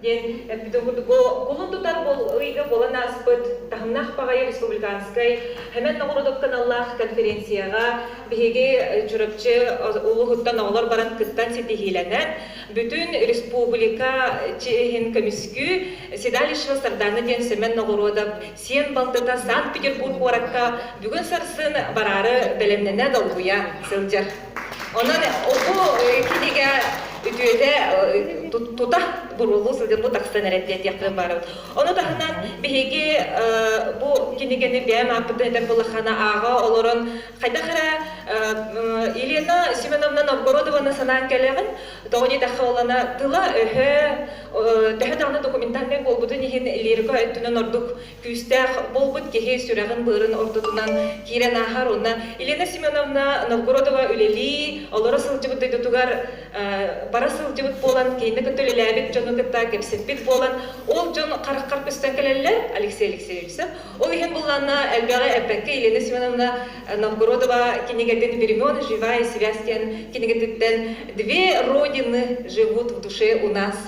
диэн эппитиҥ курдук, кулун тутар ыйга буолан ааспыт таһымнаах баҕайы республиканскай Хэмен ноҕоруодук кыналлаах конференцияҕа биһиги Чурапчы улууһуттан оҕолор баран кыттан ситиһиилэнэн бүтүн республика чиэһин көмүскүү Седалищево Старданы диэн Сэмэн ноҕоруодап сиэн балтыта Санкт-Петербург куоракка бүгүн сарсын бараары бэлэмнэнэ долгуйа сылдьар. Онон оту кинигэ үтүөтэ тута буруулуу сылдьан бу тахсан эрэ диэтиэхпин баарым. Ону таһынан биһиги бу кинигэни бэйэм ааппытын этэр булахана ааҕа олорон хайдах эрэ Елена Семеновна Новгородованы санаан кэлэҕин тоҕо диэтэххэ олана тыла-өһө төһө даҕаны документальнай буолбутун иһин лирика өттүнэн ордук Күүстээх буолбут киһи сүрэҕин-быарын ортотунан киирэн ааһар уонна Елена Семеновна Новгородова үлэлии, олоро сылдьыбыт дойдутугар бара сылдьыбыт буолан, киинэ кытта үлэлээбит дьону кытта кэпсэппит буолан, ол дьон хараххар көстөн кэлэллэр Алексей Алексеевичтэн. Ол иһин булланна элбэҕи эппэккэ Елена Семеновна Новгородова кинигэтин Времен живая связь диэн кинигэтиттэн Две родины живут в душе у нас